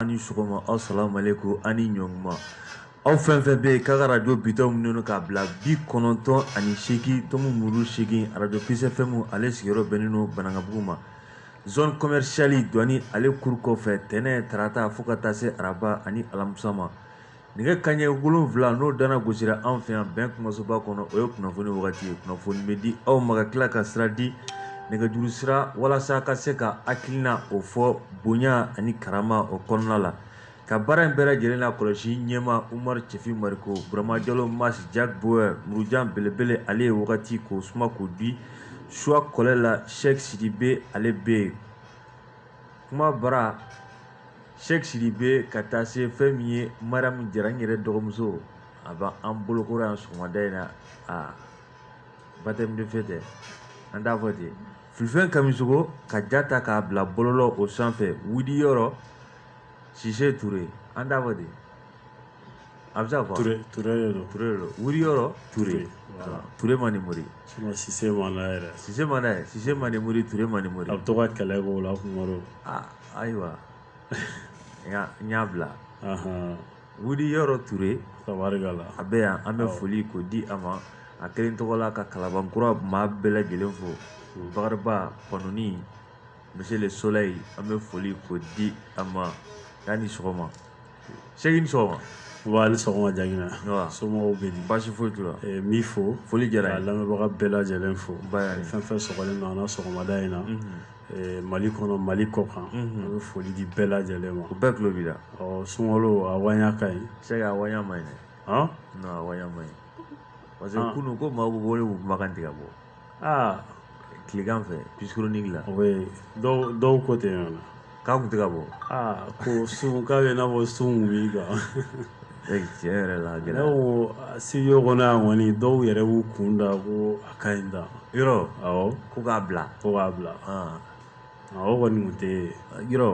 Aw ni sɔgɔma asalamu alekum aw ni ɲɔnkuma aw fɛn o fɛn bɛ yen k'a ka radio bitɔn minimini k'a bila 98.8 radio Peace FM ale sigiyɔrɔ bɛnnen don Banankabugu ma zone commerciale Duwani ale kuru kɔfɛ tɛnɛn tarata fo ka taa se araba ani alamisa ma. Nɛgɛ kanɲɛ wolonwula n'o dana gosira anw fɛ yan bɛn kumasoba kɔnɔ o ye kunnafoni wagati ye kunnafoni bɛ di aw ma ka tila ka sira di nɛgɛjuru sira walasa ka se ka hakilina o fɔ bonya ani karama o kɔnɔna la ka baara in bɛɛ lajɛlen lakɔlɔsi ɲɛma Umaru Cɛfin Mariko Burama Jalo Mas Jack Boer Murujan belebele ale ye wagati k'o suma k'o di choix kɔlɛ la Sɛki Sidibe ale bɛ yen kuma bara sɛki sidibe ka taa se fɛn min ye mariyamu jara n yɛrɛ dɔgɔmuso a bɛ an bolokɔrɔ yan sɔgɔmada in na a baptême de feu tɛ an t'a fɔ ten filifɛn kamisogo ka ja ta k'a bila bɔlɔlɔ o sanfɛ wuri yɔrɔ sise ture an t'a fɔ ten a bɛ se ka fɔ ture ture de don ture de don wuri yɔrɔ ture ture manden mori sise man d'a yɛrɛ sise man d'a ye sise manden mori ture manden mori a bɛ to ka kɛlɛ k'o la kunkɔrɔ aa ayiwa n y'a bila wuri yɔrɔ ture tabarikala a bɛ yan an bɛ foli k'o di a ma a kelen tɔgɔ la ka kalabankura maa bɛɛ lajɛlen fo bakariba panɔni Monsieur le Soleil an bɛ foli k'o di a ma k'a ni sɔgɔma Sɛki ni sɔgɔma Nba ni sɔgɔma Jagina anba somɔgɔw bɛ di baasi foyi t'u la ee n b'i fo foli diyara n ye ka lamɛnbaga bɛɛ lajɛlen fo n bay'ale fɛn fɛn sɔgɔlen don an na sɔgɔmada in na ee Mali kɔnɔ Mali kɔkan an bɛ foli di bɛɛ lajɛlen ma u bɛɛ tulo b'i la ɔ sunkalo a waɲa ka ɲi Sɛki a waɲa man ɲi dɛ han non a waɲa man ɲi parce que kunun ko maaw bɛ wele k'u kumakan tɛ ka bɔ aa tilegan fɛ Peace chronique la o ye dɔw ko tɛ yan na k'a kun tɛ ka bɔ aa ko sun k'a bɛ n'a fɔ sun wuli kan tiɲɛ yɛrɛ la ne ko studio kɔnɔ yan kɔni dɔw yɛrɛ b'u kun da ko a ka ɲi da yɔrɔ ko k'a bila ko k'a bila o kɔni kun tɛ yɔrɔ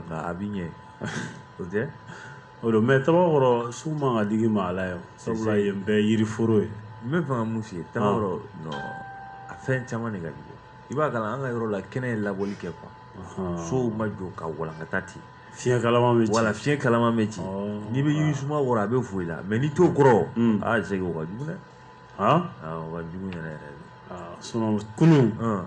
nka a bɛ ɲɛ o tɛ O don mais Tabakɔrɔ sun man ka digi maa la yen sabula yen bɛɛ ye yiriforo ye. N bɛ fɛ ka mun f'i ye Tabakɔrɔ non a fɛn caman de ka jugu i b'a kalama an ka yɔrɔ la kɛnɛ ye labɔli kɛ quoi sow ma jɔ ka walankata ten fiɲɛ kalaman bɛ ci voilà fiɲɛ kalaman bɛ ci n'i bɛ yirisuma kɔrɔ a bɛ fo i la mais n'i t'o kɔrɔ aa Sɛki o ka jugu dɛ aa o ka jugu yɛrɛ yɛrɛ de sinon kunun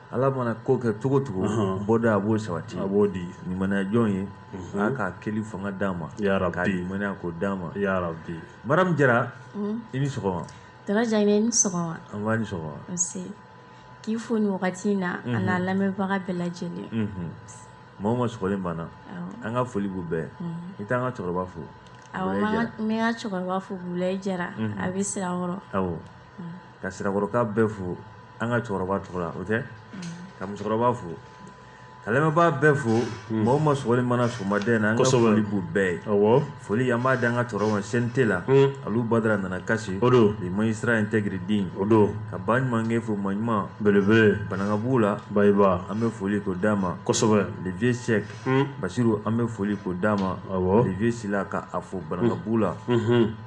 Ala mana ko kɛ cogo cogo bɔda a b'o sabati a b'o di limaniya jɔn ye a k'a kɛli fanga d'a ma k'a limaniya ko d'a ma burama jara i ni sɔgɔma k'i fo nin wagati in na a n'a lamɛnbaga bɛɛ lajɛlen maa o maa sɔgɔlen b'an na an ka foli b'u bɛɛ ye i t'an ka cɛkɔrɔba fo n bɛ n ka cɛkɔrɔba fo bulayi jara a bɛ sirakɔrɔ ka sirakɔrɔka bɛɛ fo an ka cɛkɔrɔba tɔgɔ la o tɛ ka musokɔrɔba fo ka lamɛnbaa bɛɛ fo maa o maa sɔgɔlen b'an na sɔgɔmada in na an ka foli b'u bɛɛ ye foli an b'a di an ka cɛkɔrɔba ma CNT la alu badara nana kasi o don le magistrat intègre digne o don ka ba ɲumankɛ fo maa ɲuman belebele banankabugu la ba an bɛ foli ko d'a ma kosɛbɛ le vieux cheick basiru an bɛ foli ko d'a ma le vieux sila ka a fo banankabugu la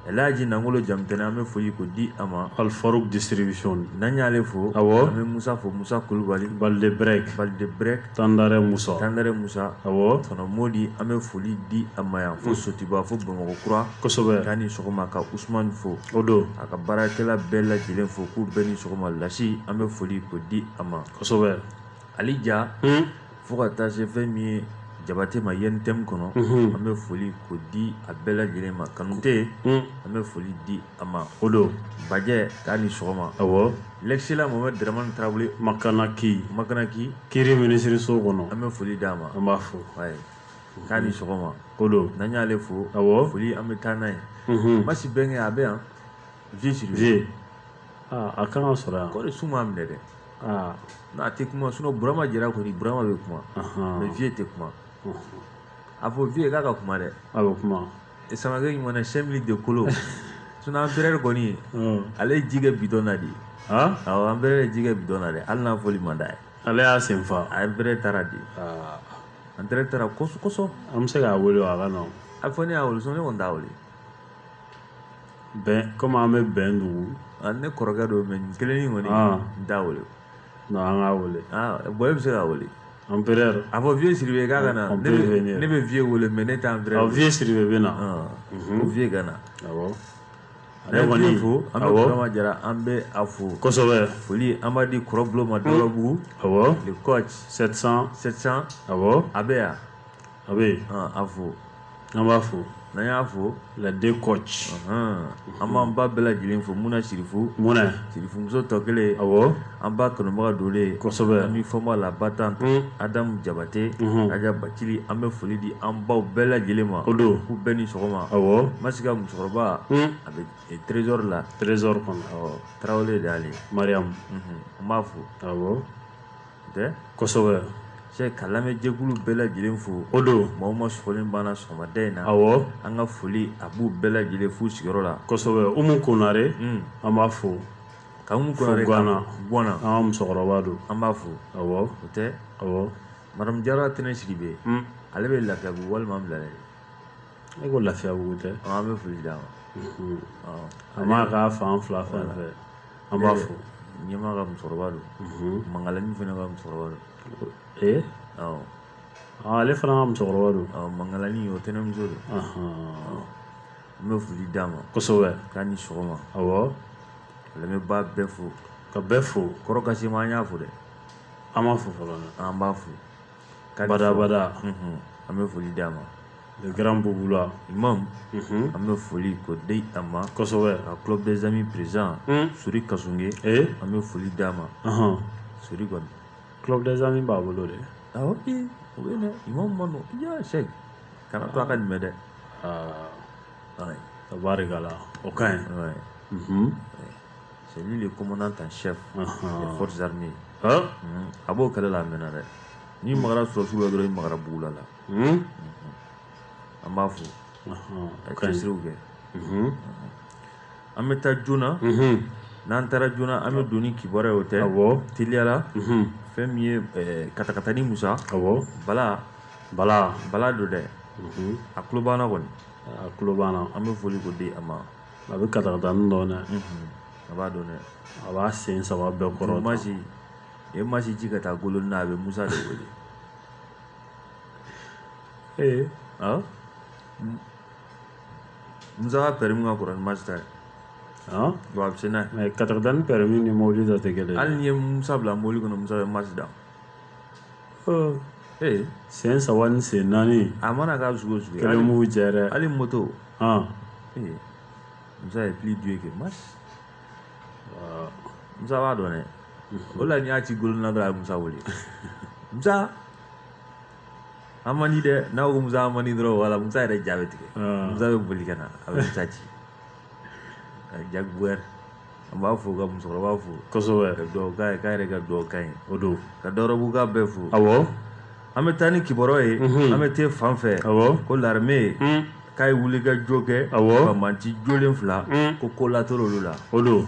elaji nangolo jamutɛnɛ an bɛ foli ko di a ma alfaruk distribution n'an y'ale fo an bɛ musa fo musa kulubali tandare mu tandare musa modi an bɛ foli di a ma yan fo sotiba fo bamakɔ kura kosɛbɛ k'a ni sɔgɔma ka usmani fo o don a ka baarakɛla bɛɛ lajɛlen fo k'u bɛɛ ni sɔgɔma lasi an bɛ foli ko di a ma kosɛbɛ ali ja fo ka taa se fɛn min ye jabate ma UNTM kɔnɔ an bɛ foli ko di a bɛɛ lajɛlen ma kanute an bɛ foli di a ma o don bajɛ k'a ni sɔgɔma awɔ l'excellent mohamed dramane tarawele makanaki makanaki kiri minisiriso kɔnɔ an bɛ foli d'a ma an b'a fo k'a ni sɔgɔma o don n'an y'ale fo awɔ foli an bɛ taa n'a ye masi bɛnkɛ a bɛ yan vieux sidibe a kan ka sɔrɔ yan kɔni sun m'a minɛ dɛ n'a tɛ kuma sinon burama jara kɔni burama bɛ kuma mais vieux tɛ kuma a fɔ vieux ye k'a ka kuma dɛ a bɛ kuma samakɛ ɲuman na cinq minutes de kolo sinon empereur kɔni ale ye ji kɛ bidɔn na de ye awɔ empereur ye ji kɛ bidɔn na dɛ hali n'a fɔli man d'a ye ale y'a sen fa empereur taara de empereur taara kosɔn an bɛ se k'a wele a ka na a fɔ ne y'a wele sinon ne kɔni t'a wele kɔmi an bɛ bɛn dugu ne kɔrɔkɛ don mais nin kelen kɔni n t'a wele an k'a wele bɔn e bɛ se k'a wele empereur a fɔ vieux sidibe k'a ka na ne bɛ vieux wele mais ne tɛ empereur vieux sidibe bɛ na ko vieux ka na ne kɔni fo an bɛ jara an bɛ a fo kosɛbɛ foli an b'a di kɔrɔbulon ma dɔrɔbugu kɔ a bɛ yan a bɛ yen a fo an b'a fo n'an y'a fo les deux coachs an b'an ba bɛɛ lajɛlen fo muna sirifu muna sirifu muso tɔ kelen a an ba kanubaga donlen kosɛbɛ an bɛ fɔma la ba tan adamu jabate aja bacili an bɛ foli di an baw bɛɛ lajɛlen ma o don u bɛɛ ni sɔgɔma awɔ masi ka musokɔrɔba a bɛ trésor la trésorerie kɔnɔ tarawele de y'ale mariam an b'a fo tɛ kosɛbɛ cɛ ka lamɛnjɛkulu bɛɛ lajɛlen fo o don maaw ma sɔgɔlen banna sɔgɔmada in na awɔ an ka foli a b'u bɛɛ lajɛlen f'u sigiyɔrɔ la kosɛbɛ umu konare hmm. an b'a fo ka umu konare gwana gwana an ka musokɔrɔba don an b'a fo awɔ o tɛ awɔ madamu jara tɛnɛ sidibe hmm. ale bɛ lafiyabugu walima bilale e ko lafiyabugu tɛ an bɛ foli d'a ma a ma k'a fan fila fɛn fɛ an b'a fo ɲɛma ka musokɔrɔba don mangalani fana ka musokɔrɔba don ee ale fana ka musokɔrɔba don mangalani o tɛnɛmuso don n bɛ foli d'a ma kosɛbɛ k'a ni sɔgɔma awɔ lamɛnbaa bɛɛ fo ka bɛɛ fo kɔrɔ kasim an y'a fo dɛ an b'a fo fɔlɔ an b'a fo badabada an bɛ foli d'a ma grand bubula imam an bɛ foli k'o di a ma kosɛbɛ club des amis président suri kasunge an bɛ foli d'a ma suri kɔni club des amis b'a bolo dɛ o sɛk kana to a ka nin mɛn dɛ tabarikala o ka ɲi c'est lui le commandant en chef des forces armées a b'o kɛlɛ la a mɛnna dɛ n'i magara sɔrɔdasiw la dɔrɔn i magara bugula la an b'a fo ka cɛsiriw kɛ an bɛ taa joona n'an taara joona an bɛ don ni kibaruya o tɛ teliyala fɛn min ye katakatani musa bala bala bala don dɛ a tulo b'an na kɔni a tulo b'an na an bɛ foli k'o di a ma a bɛ katakatani dɔn dɛ a b'a dɔn dɛ a b'a sen saba bɛɛ kɔrɔ masi ye masi ci ka taa golonina a bɛ musa de wele ee musa ka permis ka kɔrɔ ni masi ta ye a bɛ se n'a ye katakatani permis ni mobili ta tɛ kelen hali n'i ye musa bila mobili kɔnɔ musa bɛ masi da Ee sen saba ni sen naani a mana ka cogo o cogo kɛlɛ mugu cɛ dɛ hali moto ee musa ye plus dur que masi musa b'a dɔn dɛ o la n'i y'a ci golonina dɔrɔn a ye musa wele musa an man di dɛ n'a ko musa an man di dɔrɔn wala musa yɛrɛ ja bɛ tigɛ musa bɛ boli ka na a bɛ musa ci ka jago wɛrɛ an b'a fo ka musokɔrɔba fo kosɛbɛ ka dugawu k'a ye k'a yɛrɛ ka dugawu k'a ye o don ka dɔrɔbuguka bɛɛ fo awɔ an bɛ taa ni kibaruya ye an bɛ te fan fɛ awɔ ko larime ye k'a ye wulikajɔ kɛ awɔ ka banbaci jolen fila ko ko latora olu la o don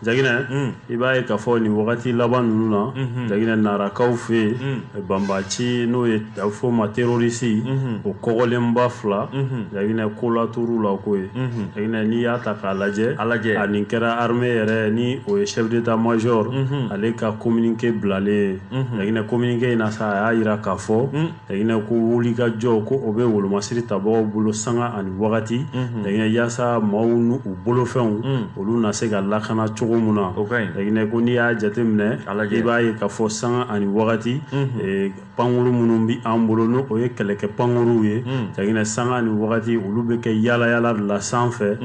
jaginɛ i b'a ye k'a fɔ nin wagati laban ninnu na jaginɛ narakaw fɛ yen banbaci n'o ye a bɛ f'o ma terorisi o kɔgɔlenba fila jaginɛ ko latora u la ko ye jaginɛ n'i y'a ta k'a lajɛ a nin kɛra armée yɛrɛ ni o ye chef d'état major ale ka kominike bilalen jaginɛ kominike in na sa a y'a jira k'a fɔ jaginɛ ko wulikajɔ ko o bɛ wolomasiri tabagaw bolo sanga ani wagati jaginɛ yaasa maaw n'u bolofɛnw olu na se ka lakana cogo min na jaginɛ ko n'i y'a jateminɛ i b'a ye k'a fɔ sanga ani wagati pankuru minnu bɛ an bolo n'o ye kɛlɛkɛ pankuruw ye jaginɛ sanga ani wagati olu bɛ kɛ yaalayaala la sanfɛ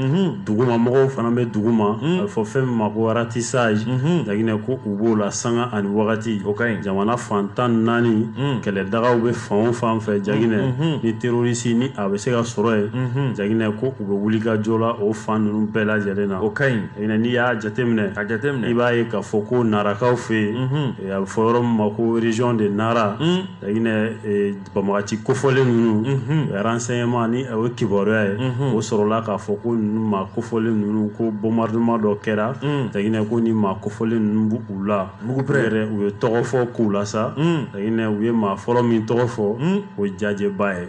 duguma mɔgɔw fana bɛ duguma a bɛ fɔ fɛn min ma ko ratissage jaginɛ ko u b'o la sanga ani wagati o ka ɲi jamana fan tan naani kɛlɛdagaw bɛ fan o fan fɛ jaginɛ ni terorisi ni a bɛ se ka sɔrɔ yen jaginɛ ko u bɛ wulikajɔ la o fan ninnu bɛɛ lajɛlen na o ka ɲi Jaginɛ n'i y'a jateminɛ, ka jateminɛ, i b'a ye k'a fɔ ko narakaw fɛ yen, unhun, a bɛ fɔ yɔrɔ min ma ko région de Nara, Jaginɛ banbagaci kofɔlen ninnu, unhun, renseignements ni o ye kibaruya ye, unhun, o sɔrɔla k'a fɔ ko ninnu maa kofɔlen ninnu ko bombardement dɔ kɛra, Jaginɛ ko nin maa kofɔlen ninnu bɛ u la, mugupɛrɛn, yɛrɛ u ye tɔgɔ fɔ k'u la sa, Jaginɛ u ye maa fɔlɔ min tɔgɔ fɔ, un, o ye Jajɛba ye.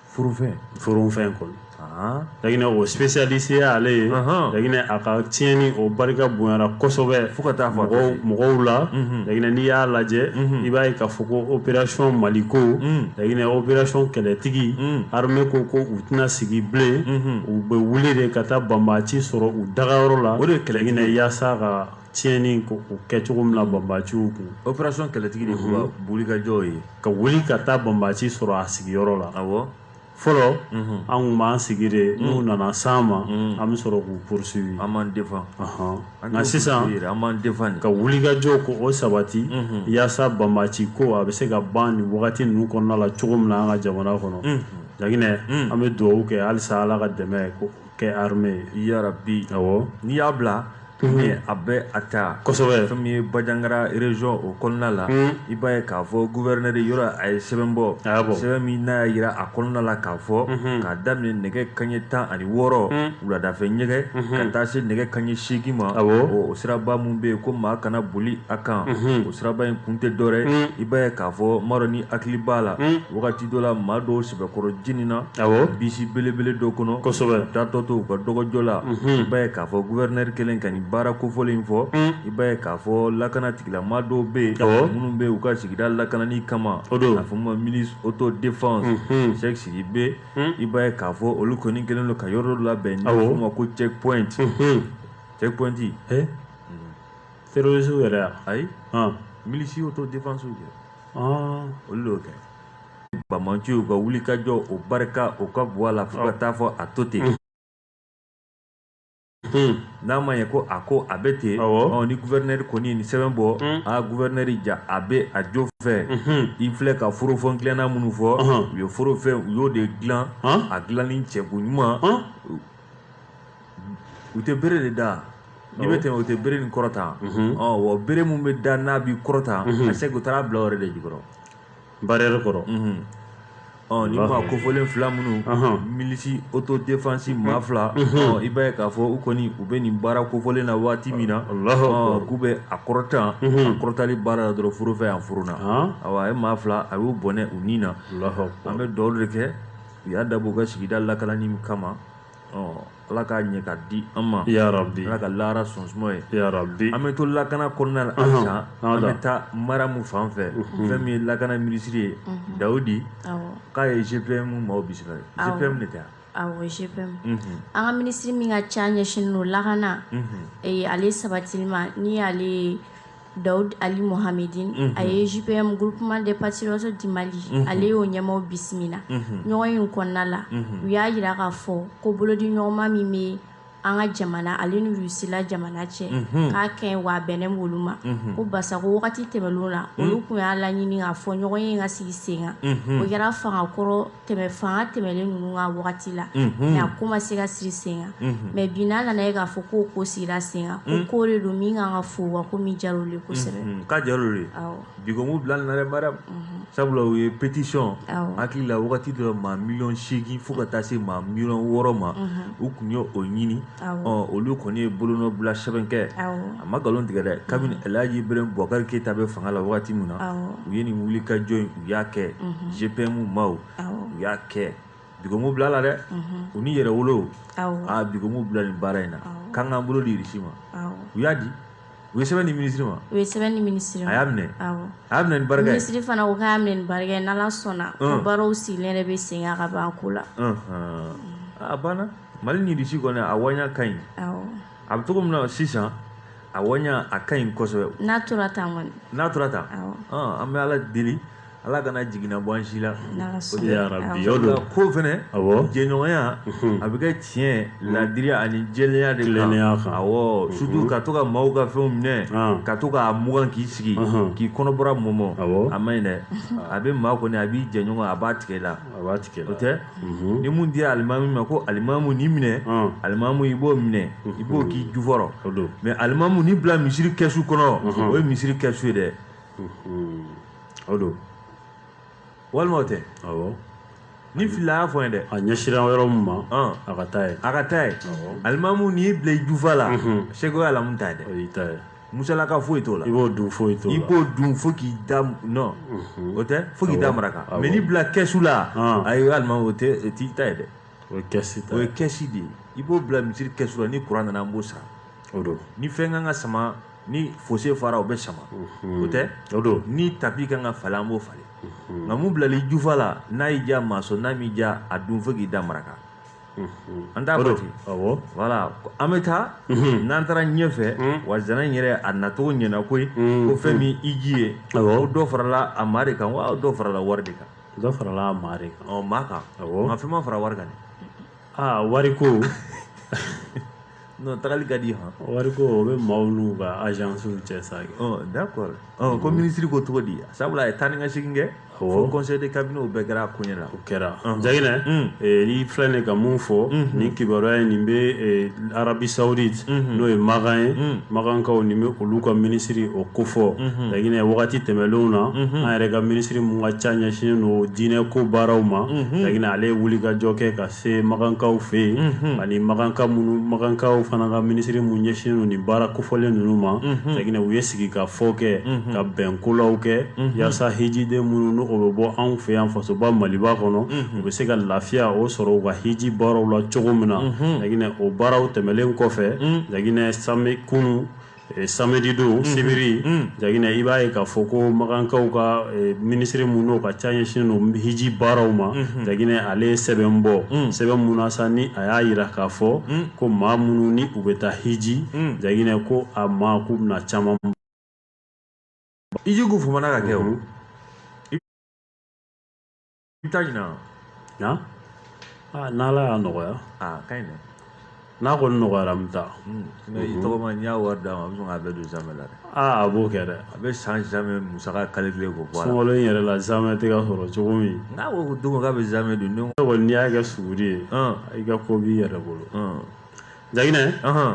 furufɛn furufɛn kɔni jaginɛ o spécialiste ye ale ye jaginɛ a ka tiɲɛni o barika bonyara kosɛbɛ fo ka taa fɔ mɔgɔw la jaginɛ n'i y'a lajɛ i b'a ye k'a fɔ ko opération Maliko jaginɛ opération kɛlɛtigi armée ko ko u tɛna sigi bilen u bɛ wuli de ka taa banbaaci sɔrɔ u dagayɔrɔ la o de ye kɛlɛminɛ yaasa ka tiɲɛni ko o kɛ cogo min na banbaciw kun operation kɛlɛtigi de tun ka wulikajɔw ye ka wuli ka taa banbaci sɔrɔ a sigiyɔrɔ la awɔ fɔlɔ an tun b'an sigi de n'u nana s'an ma an bɛ sɔrɔ k'u poursuivi an b'an defan nka sisan an b'an defan ka wulikajɔ ko o sabati yaasa banbaci ko a bɛ se ka ban nin wagati ninnu kɔnɔna la cogo min na an ka jamana kɔnɔ Jaginɛ an bɛ dugawu kɛ halisa Ala ka dɛmɛ ko kɛ armée ye yarabi awɔ n'i y'a bila ni a bɛ a ta kosɛbɛ fɛn min ye Bajangara région o kɔnɔna la i b'a ye k'a fɔ gouverneur yɔrɔ a ye sɛbɛn bɔ a y'a bɔ sɛbɛn min n'a y'a jira a kɔnɔna la k'a fɔ k'a daminɛ nɛgɛ kanɲɛ tan ani wɔɔrɔ wuladafɛ jaginɛ ka taa se nɛgɛ kanɲɛ seegin ma awɔ o siraba min bɛ yen ko maa kana boli a kan o siraba in kun tɛ dɔwɛrɛ ye i b'a ye k'a fɔ n m'a dɔn n'i hakili b'a la wagati dɔ la maa dɔw kɔrɔ jenina bisi belebele dɔ kɔnɔ kosɛbɛ taatɔ to u ka dɔgɔjɔ la i b'a ye k'a fɔ guvɛrinɛri kɛlen ka nin baara kofɔlen in fɔ i b'a ye k'a fɔ lakana tigilamaa dɔw bɛ yen minnu bɛ u ka sigida lakanani kama a fɔ ma milisi auto défense Seku Sidibe i b'a ye k'a fɔ olu kɔni kɛlen don ka yɔrɔ dɔ labɛn n'a fɔ ma ko checkpoint checkpoint terroriste yɛrɛ ayi milisi auto défensew kɛ olu y'o kɛ bamanciw ka wulikajɔ o barika o ka bɔ a la fo ka taa fɔ a to ten n'a ma ɲɛ ko a ko a bɛ ten ni guvɛrinɛri kɔni ye nin sɛbɛn bɔ a guvɛrinɛri ja a bɛ a jo fɛ i filɛ ka forofɛn dilanna minnu fɔ u ye forofɛn u y'o de dilan a dilanni cɛko ɲuman u tɛ bere de da n'i bɛ tɛmɛ u tɛ bere nin kɔrɔta wa bere min bɛ da n'a b'i kɔrɔta a se u taara bila o yɛrɛ de jukɔrɔ barrière kɔrɔ ɔ nin maa kofɔlen fila minnu milisi auto défense maa fila i b'a ye k'a fɔ u kɔni u bɛ nin baara kofɔlen na waati min na k'u bɛ a kɔrɔtan a kɔrɔtali baara la dɔrɔn forofɛn yan forona awa a ye maa fila a y'u bɔnɛ u ni na an bɛ dugawu de kɛ u y'a dabɔ u ka sigida lakanani kama ala k'a ɲɛ ka di an ma yarabi ala ka lahara sɔn suma ye yarabi an bɛ to lakana kɔnɔna la halisa an bɛ taa Maramu fan fɛ fɛn min ye lakana minisiri ye Dawudi k'a ye GPM maaw bisimila GPM de tɛ GPM an ka minisiri min ka ca ɲɛsinnen don lakana ale sabatili ma n'o y'ale Dawud Ali Mohamedine a ye GPM groupement des patriotes du Mali ale y'o ɲɛmaaw bisimila ɲɔgɔnye kɔnɔna la u y'a jira k'a fɔ ko bolodiɲɔgɔnma min bɛ an ka jamana ale ni Rusila jamana cɛ k'a kan wa bɛnnen b'olu ma ko barisa ko wagati tɛmɛlen na olu kun y'a laɲini k'a fɔ ɲɔgɔnye ka sigi sen kan o kɛra fanga kɔrɔ tɛmɛ fanga tɛmɛlen ninnu ka wagati la mɛ a ko ma se ka sigi sen kan mɛ bi n'a nana ye k'a fɔ ko ko sigira sen kan ko ko de don min kan ka fo wa ko min diyar'u ye kosɛbɛ k'a diyar'u ye bi ko m'u bila a la dɛ Maramu sabula u ye pétition n hakili la wagati dɔ maa miliyɔn segin fo ka taa se maa miliyɔn wɔɔrɔ ma u kun y'o ɲini olu kɔni ye bolonɔ bila sɛbɛn kɛ a ma nkalon tigɛ dɛ kabini alaji Ibrahim Bubakari Keyita bɛ fanga la waati min na u ye nin wulikajɔ in u y'a kɛ GPM maaw u y'a kɛ bi ko m'u bila a la dɛ u ni Yɛrɛwolo aa bi ko m'u bila nin baara in na k'an k'an bolo di Irisi ma u y'a di u ye sɛbɛn di minisiri ma u ye sɛbɛn di minisiri ma a y'a minɛ awɔ a y'a minɛ ni barika ye minisiri fana ko k'a minɛ ni barika ye n'ala sɔnna ko mm. baaraw sigilen yɛrɛ bɛ sen kan ka ban ko la a banna mali ni Irisi kɔni a wanya ka ɲi awɔ a bɛ cogo min na sisan a wanya a ka ɲi kosɛbɛ n'a tora tan kɔni n'a tora tan an bɛ ala deli Ala kana jiginna bɔ an si la ko fɛnɛ jɛɲɔgɔnya a bɛ kɛ tiɲɛ ladiriya ani jɛlenya de la awɔ surtout ka to ka maaw ka fɛnw minɛ ka to k'a mugan k'i sigi k'i kɔnɔbara mɔmɔ a ma ɲi dɛ a bɛ maa kɔni a b'i jɛɲɔgɔn a b'a tigɛ la o tɛ ni mun dira alimami ma ko alimamu nin minɛ alimamu i b'o minɛ i b'o k'i jufa rɔ mais alimamu nin bila misiri kɛsu kɔnɔ o ye misiri kɛsu ye dɛ o don walima o tɛ awɔ ni fila y'a fɔ ye dɛ a ɲɛsira yɔrɔ min ma a ka taa ye a ka taa ye alimamu nin bila i jufa la c'est que o ye alimamu ta ye dɛ o y'i ta ye musalaka foyi t'o la i b'o dun foyi t'o la i b'o dun fo k'i da non o tɛ fo k'i da maraka mais nin bila kɛsu la ayi alimamu o t'i ta ye dɛ o ye kɛsi ta o ye kɛsi de ye i b'o bila misiri kɛsu la ni kuran nana an b'o sara o don ni fɛn kan ka sama ni fosse fara o bɛ sama mhm. o tɛ o don ni tapi kan ka falen an b'o falen mhm. nka mun bilala i jufa la n'a y'i diya maa sɔn n'a m'i diya a dun fo k'i da maraka mhm. an t'a fɔ ten awɔ voilà an bɛ taa n'an taara ɲɛfɛ wa zana in yɛrɛ a nacogo ɲɛna koyi ko fɛn min i ji ye ko dɔ farala a maa de kan wa dɔ farala wari de kan dɔ farala a maa de kan ɔ maa kan nka fɛn ma fara wari kan dɛ aa wari ko non tagali ka di hɔn wari ko o bɛ maaw n'u ka agencew cɛ sa kɛ ɔ d'accord ɔ ko minisiri ko cogo di sabula a ye taa ni ka segin kɛ Awɔ. fo conseil de cabinet o bɛɛ kɛra a koɲɛ la o kɛra Ɔhɔn. Jaginɛ Mm. eh, n'i filɛ nin ye ka mun fɔ nin kibaruya in nin bɛ eh, Arabi Saoudite n'o ye makan ye makankaw ni bɛ olu ka minisiri o kofɔ Jaginɛ wagati tɛmɛnlenw na an yɛrɛ ka minisiri mun ka ca ɲɛsinnen don diinɛ ko baaraw ma Jaginɛ ale ye wulikajɔ kɛ ka se makankaw fɛ yen ani makankaw fana ka minisiri mun ɲɛsinnen don nin baara kofɔlen ninnu ma Jaginɛ u ye sigi ka fɔ kɛ ka bɛnkolaw kɛ yaasa hijiden minnu n'o bɛ bɔ anw fɛ yan fasoba maliba kɔnɔ u bɛ se ka lafiya o sɔrɔ u ka hiji baaraw la cogo min na Jaginɛ o baaraw tɛmɛnlen kɔfɛ Jaginɛ kunu samedi don sibiri Jaginɛ i b'a ye k'a fɔ ko makankaw ka minisiri mun n'o ka ca ɲɛsinnen don hiji baaraw ma Jaginɛ ale ye sɛbɛn bɔ sɛbɛn mun na sa ni a y'a jira k'a fɔ ko maa minnu ni u bɛ taa hiji Jaginɛ ko a ma k'u bɛna caman ijikuumana ka kɛ I bɛ taa ɲina yan aa n'ala y'a nɔgɔya aa ka ɲi dɛ n'a kɔni nɔgɔyara n bɛ taa mais i tɔgɔma n'i y'a wari d'a ma a bɛ sɔn k'a bɛɛ don zamɛ la dɛ aa a b'o kɛ dɛ a bɛ san zamɛ musaka calculer k'o bɔ a la sunkalo in yɛrɛ la zamɛ tɛ ka sɔrɔ cogo min n'a ko don k'a bɛ zamɛ dun ne kɔni n'i y'a kɛ suguri ye i ka ko b'i yɛrɛ bolo Jaginɛ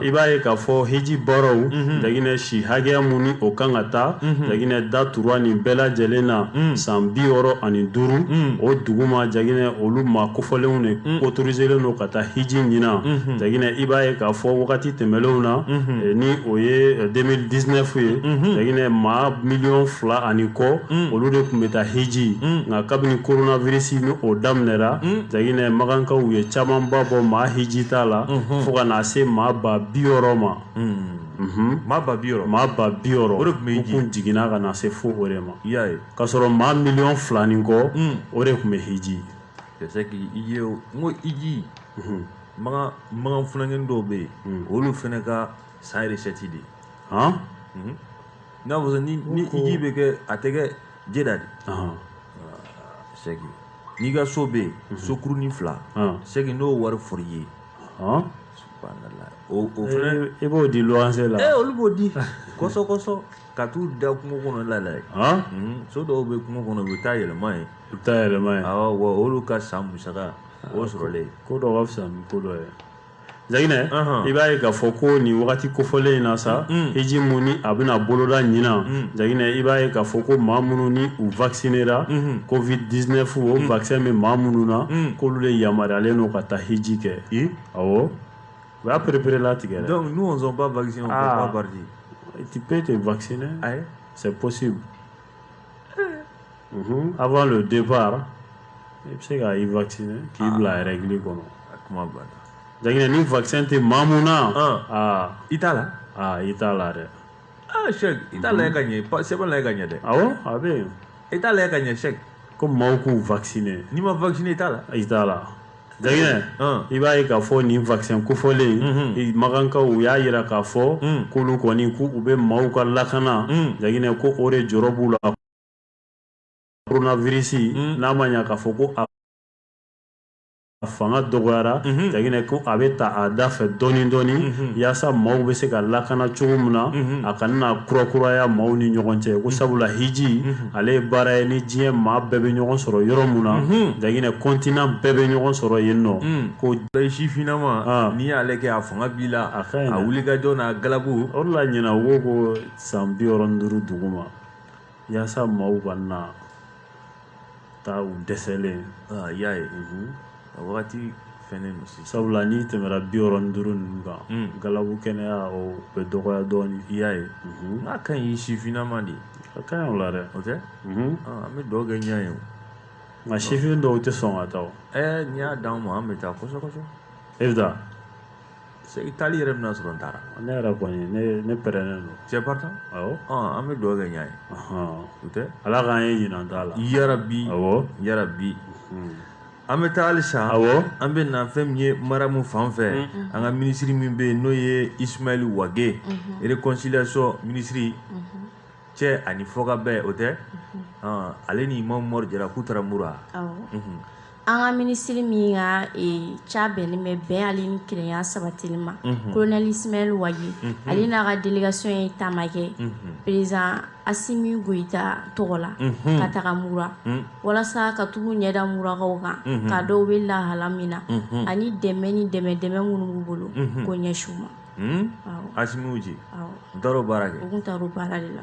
i b'a ye k'a fɔ hiji baaraw Jaginɛ si hakɛya mun ni o kan ka taa Jaginɛ da tura nin bɛɛ lajɛlen na san bi wɔɔrɔ ani duuru o duguma Jaginɛ olu maa kofɔlenw de autoriselen don ka taa hiji ɲinan Jaginɛ i b'a ye k'a fɔ wagati tɛmɛnlenw na ni o ye deux mille dix-neuf ye Jaginɛ maa miliyɔn fila ani kɔ olu de tun bɛ taa hiji nka kabini coronavirus ni o daminɛna Jaginɛ Makankaw ye camanba bɔ maa hiji taala fo ka na se maa ba bi wɔɔrɔ ma, unhun, maa ba bi wɔɔrɔ, maa ba bi wɔɔrɔ, o de tun bɛ hiji, u tun jiginna ka na se fo o de ma, i y'a ye, k'a sɔrɔ maa miliyɔn fila ni kɔ, un, o de tun bɛ hiji, c'est que i ye o, n ko hiji, unhun, Makan Makan funankɛnin dɔw bɛ yen, un, o y'olu fana ka san recette de ye, han, unhun, i n'a fɔ sisan ni ni hiji bɛ kɛ a tɛ kɛ Jeda dɛ ɔhɔn c'est que n'i ka so bɛ yen sokurunin fila ɔn c'est que n'o wari fɔr'i ye ɔn subhanala o o fɛnɛ i b'o di luwanse la ee olu b'o di kɔsɔ kɔsɔ ka t'u da kungo kɔnɔ la la yen ɔn Mhm, so dɔw bɛ kungo kɔnɔ u bɛ taa yɛlɛma yen i bɛ taa yɛlɛma yen awɔ wa olu ka san musaka o sɔrɔlen ko dɔ ka fisa ni ko dɔ ye Jaginɛ, anhan, i b'a ye k'a fɔ ko nin wagati kofɔlen in na sa, un, hiji mun ni a bɛna boloda ɲinan, un, Jaginɛ, i b'a ye k'a fɔ ko maa minnu ni u vaccinera, unhun, covid 19 o un, vaccin bɛ maa minnu na, un, k'olu de yamaruyalen don ka taa hiji kɛ, i, awɔ, u y'a pereperelatigɛ dɛ, donc nous on sont pas vaccinés on peut ah. pas partir, tu peux te vacciner, ayi, c'est possible Mhm. Avant le départ, i bɛ se ka i vacciner k'i ah. bila règle kɔnɔ. A kuma banna. Jaginɛ ni vaccin tɛ maa mun na. Ah. Ah. I t'a la. Ah, i t'a la dɛ. Ah, Cheikh, i t'a lajɛ ka ɲɛ, sɛbɛn lajɛ ka ɲɛ dɛ. Awɔ, a bɛ yen. I t'a lajɛ ka ɲɛ Cheikh. Ko maaw k'u vacciner. N'i ma vacciner i t'a la. I t'a la. Jaginɛ, i b'a ye k'a fɔ nin vaccin kofɔlen, mhm. Makankaw u y'a yira k'a fɔ mhm. k'olu kɔni k'u bɛ maaw ka lakana, mhm. Jaginɛ ko o de jɔrɔ b'u la. coronavirus hmm. n'a ma ɲa k'a fɔ ko a a fanga dɔgɔyara jaginɛ ko a bɛ ta a da fɛ dɔɔni dɔɔni yaasa maaw bɛ se ka lakana cogo min na a kana na kurakuraya maaw ni ɲɔgɔn cɛ ko sabula hiji ale ye baara ye ni diɲɛ maa bɛɛ bɛ ɲɔgɔn sɔrɔ yɔrɔ min na jaginɛ kɔntinan bɛɛ bɛ ɲɔgɔn sɔrɔ yen nɔ ko sifinnama n'i y'ale kɛ a fanga b'i la a wulikajɔ n'a galabu o de la ɲinan u ko ko san bi wɔɔrɔ ni duuru duguma yaasa maaw kana taa u dɛsɛlen aa y'a ye a wagati fɛnnen don sisan sabula n'i tɛmɛna bi wɔɔrɔ ni duuru ninnu kan galabu kɛnɛya o bɛ dɔgɔya dɔɔnin i y'a ye n'a ka ɲi sifinnama de a ka ɲi o la dɛ o tɛ an bɛ dugawu kɛ ɲɛ ye o nka sifin dɔw tɛ sɔn ka taa o ɛɛ n'i y'a d'an ma an bɛ taa kosɛbɛ kosɛbɛ e bɛ taa i taali yɛrɛ bɛna sɔrɔ n taara ne yɛrɛ kɔni ne pɛrɛnnen don cɛ barika awɔ an bɛ dugawu kɛ ɲɛ ye o tɛ ala k'an ye ɲinan t'a la yarabi awɔ yarabi an bɛ taa halisa awɔ an bɛ na fɛn min ye maramu fan fɛ an ka minisiri min bɛ yen n'o ye isumayɛli wage réconciliation minisiri cɛ ani fɔkabɛn o tɛ ale ni imam umar jara k'u taara mura an ka minisiri min ka ca bɛnnen bɛ bɛn hɛrɛ ni kelenya sabatili ma kolonɛli isumayɛli wage ale n'a ka delegasiɔn ye taama kɛ perezidan asimi goyita tɔgɔ la ka taga mura walasa ka taga u ɲɛ da murakaw kan k'a dɔn u bɛ lahala min na ani dɛmɛ ni dɛmɛ dɛmɛ minnu b'u bolo k'o ɲɛsin u ma asimi dɔw baara kɛ baara de la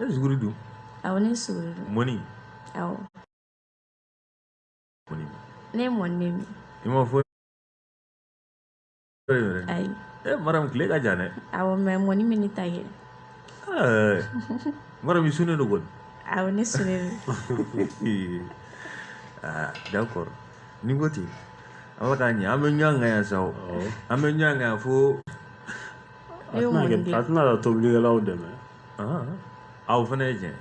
e suguri dun awɔ ne suguri dun mɔni awɔ mɔni ne ye mɔni de min i m'a fɔ ayi e maramu tile ka jan dɛ awɔ mɛ mɔni min ne t'a kɛ maramu i sunnen don kɔni awɔ ne sunnen don ah d'accord n ko ten ala k'a ɲɛ an bɛ ɲɔgɔn kan yan sa o an bɛ ɲɔgɔn kan yan fo a tɛna taa tobilikɛlaw dɛmɛ a o fana ye tiɲɛ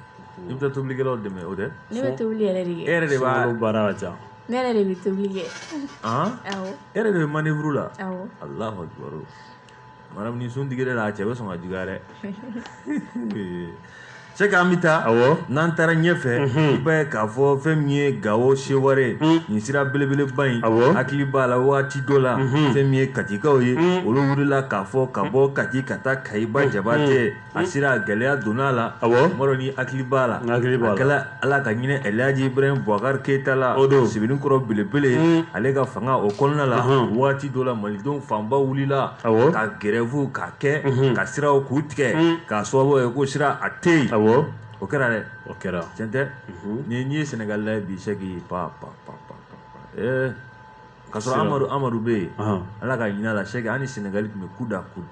i bɛ taa tobilikɛlaw dɛmɛ o tɛ ne bɛ tobili yɛrɛ de kɛ e yɛrɛ de b'a baara ka ca ne yɛrɛ de bɛ tobili kɛ e yɛrɛ de bɛ manevuru la allahu akbar maramu ni sun digira a la cɛ bɛ sɔn ka juguya dɛ sɛki an bɛ taa n'an taara ɲɛ fɛ i b'a ye k'a fɔ fɛn min ye gawo seware nin sira belebeleba in hakili b'a la waati dɔ la fɛn min ye katikaw ye olu wulila k'a fɔ ka bɔ kati ka taa kayi ba jabatɛ a sira gɛlɛya donna a la mɔgɔ min hakili b'a la ala ka ɲinɛ elhaji ibrahim bubakar keyita la o don sebenikɔrɔ belebele hmm. ale ka fanga o kɔnɔna la waati dɔ la malidenw fanba wulila ka grève ka kɛ hmm. ka siraw k'u tigɛ hmm. k'a sababu ye ko sira a tɛ yen o kɛra dɛ o kɛra tiɲɛ tɛ ni n'i ye sɛnɛgali lajɛ bi sɛki pa pa pa pa ɛɛ ka sɔrɔ amadu amadu bɛ yen ala ka ɲinɛ a la sɛki an ni sɛnɛgali tun bɛ coude à coude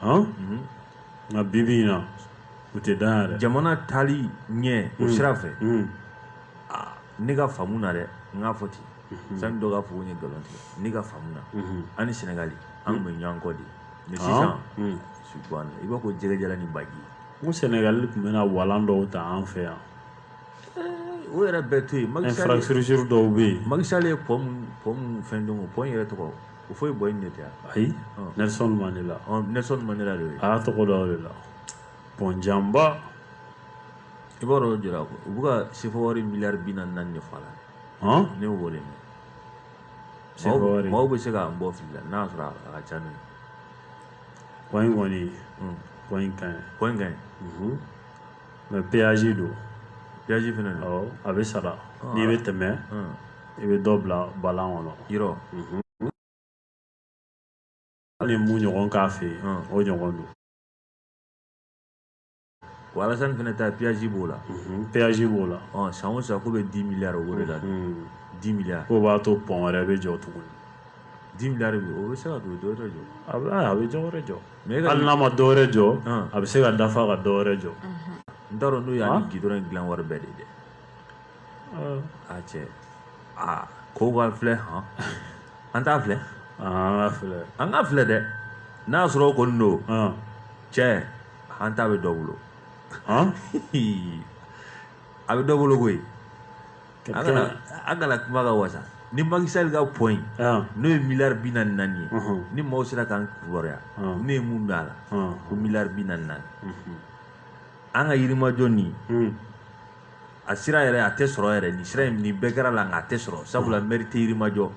mhm. nka bibi in na u tɛ dan yɛrɛ jamana taali ɲɛ o mm. sira fɛ mm. ne ka faamu na dɛ n k'a fɔ ten mm-hmm. sani dɔ k'a fɔ ko n ye nkalon tigɛ ne ka faamu na mm-hmm. an ni sɛnɛgali an tun bɛ mm. ɲɔgɔn kɔ de mɛ sisan subahana i b'a fɔ jɛgɛjalan ni baji n ko sɛnɛgali tun bɛ na walan dɔw ta an fɛ yan eh, o yɛrɛ bɛɛ to yen infrastructure dɔw bɛ yen maki sali ye pɔmu mun fɛn dɔn o pɔmu yɛrɛ tɔgɔ Houphouët-Boigny de tɛ ayi nelson mandela nelson mandela de ye a y'a tɔgɔ da o de la pɔn janba i b'a dɔn jira ko u bɛ ka sefa wari miliyari bi naani naani de f'a la ne y'o de mɛn maaw bɛ se k'an bɔ fili la n'a sɔrɔ a ka ca n'o ye pɔn in kɔni pɔn in ka ɲi pɔn in ka ɲi mɛ peyazi don peyazi fɛnɛ awɔ a bɛ sara ah. n'i bɛ tɛmɛ ah. i bɛ dɔ bila balan kɔnɔ yɔrɔ mhm. hali mun ɲɔgɔn k'a fɛ yen ah. o ɲɔgɔn don wa alasani fɛnɛ ta peyazi b'o la mhm. peyazi b'o la san o san ko bɛ di miliyari o de la mhm. di miliyari k'o b'a to pɔn wɛrɛ bɛ jɔ tuguni di miliyari o bɛ se ka pɔn dɔ wɛrɛ jɔ a bɛ dɔ wɛrɛ jɔ hali n'a ma dɔwɛrɛ jɔ a bɛ se ka dafa ka dɔwɛrɛ jɔ n t'a dɔn n'u y'a ni gidɔrɔn in dilan wari bɛɛ de dɛ a cɛ aa k'u k'a filɛ hɔn an t'a filɛ an k'a filɛ dɛ n'a y'a sɔrɔ o kɔni don cɛ an ta bɛ dɔ bolo a bɛ dɔ bolo koyi a kana a kana kuma ka wasa ni Macky Sall ka pɔn n'o ye miliyari bi naani naani ye ni maaw sera k'an kibaruya ne ye mun mɛn a la ko miliyari bi naani naani an ka yirimajɔ nin a sira yɛrɛ a tɛ sɔrɔ yɛrɛ nin sira in nin bɛɛ kɛr'a la nka a tɛ sɔrɔ sabula mɛri tɛ yirimajɔ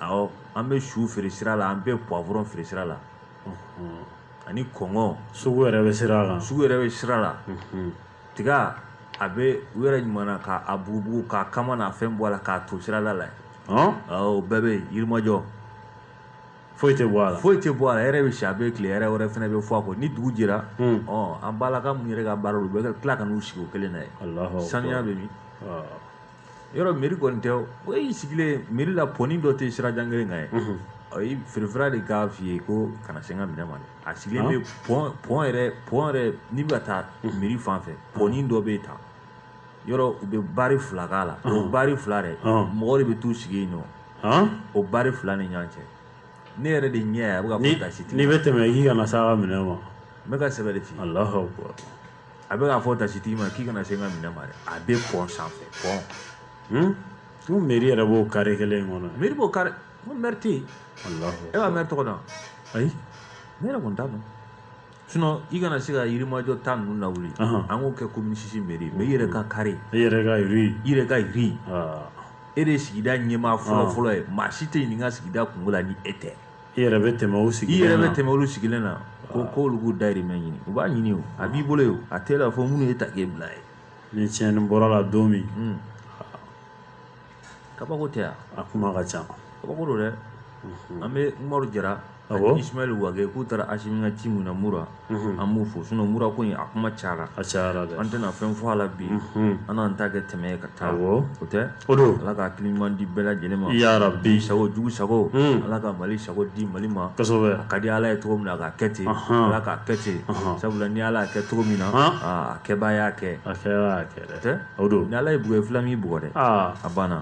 awɔ an bɛ su feere sira la an bɛ puwavurɔn feere sira la ani kɔnkɔn sugu yɛrɛ bɛ sira la sugu yɛrɛ bɛ sira la tiga a bɛ u yɛrɛ ɲuman na k'a bugubugu k'a kama n'a fɛn bɔ a la k'a to sirada la yen o bɛɛ bɛ yen yirimajɔ foyi tɛ bɔ a la foyi tɛ bɔ a la yɛrɛ bɛ si a bɛ tile yɛrɛ wɛrɛ fana bɛ fɔ a kɔ ni dugu jɛra an balaka minnu yɛrɛ ka baara u bɛ tila ka n'u sigi o kelen na yen saniya bɛ min yɔrɔ mɛri kɔni tɛ o y'i sigilen mɛri la pɔni dɔ tɛ sirajan kelen kan yen o ye feerefeere de k'a f'i ye k'i kana se n ka minɛn ma dɛ a sigilen bɛ pɔn pɔn yɛrɛ pɔn yɛrɛ n'i bɛ ka taa mɛri fan fɛ pɔni dɔ bɛ yen tan yɔrɔ u bɛ bari fila k'a la o bari fila dɛ mɔgɔ de bɛ t'u sigi yen nɔ o bari fila ni ɲɔgɔn cɛ ne yɛrɛ de ɲɛ a bɛ k'a fɔ tasitigi n'i bɛ tɛmɛ i k'i kana s'a ka minɛn ma n bɛ ka sɛbɛ de f'i ye Alahu akbar a bɛ k'a fɔ tasitigi ma k'i kana se n ka minɛn ma dɛ a bɛ pɔn sanfɛ pɔn hmm? ko meri yɛrɛ b'o kare kelen in kɔnɔ meri b'o kare ko mɛri tɛ yen e b'a mɛri tɔgɔ dɔn ayi ne yɛrɛ kɔni t'a dɔn sinon i kana se ka yirimajɔ ta ninnu lawuli an k'o kɛ komini sisi meri mɛ i yɛrɛ ka kare i yɛrɛ ka ri i yɛrɛ ka ri e de ye sigida ɲɛmaa fɔlɔ fɔlɔ ye maa si tɛ ɲininka sigida kunko la ni e tɛ i yɛrɛ bɛ tɛmɛ o sigilen i yɛrɛ bɛ tɛmɛ olu sigilen na ko ko olu k'u dayirimɛ ɲini u b'a ɲini o a b'i bolo ye o a tɛ la fɔ minnu y'e ta k'e bila yen ni tiɲɛni bɔra la don min hmm. kabako tɛ yan a kuma ka ca kabako don dɛ an bɛ umaru jara ani ismail wage k'u taara asimi ka ci min na mura an b'u fo sinon mura ko in a kuma cayara a cayara an tɛna fɛn fɔ a la bi an n'an ta kɛ tɛmɛ ka taa o tɛ o don ala ka hakili ɲuman di bɛɛ lajɛlen ma yarabi sago jugu sago ala ka mali sago di mali ma a ka di ala ye cogo min na ka kɛ ten ala k'a kɛ ten sabula ni ala y'a kɛ cogo min na a kɛbaa y'a kɛ a kɛ o don ni ala ye bugɔ fila min bugɔ dɛ a banna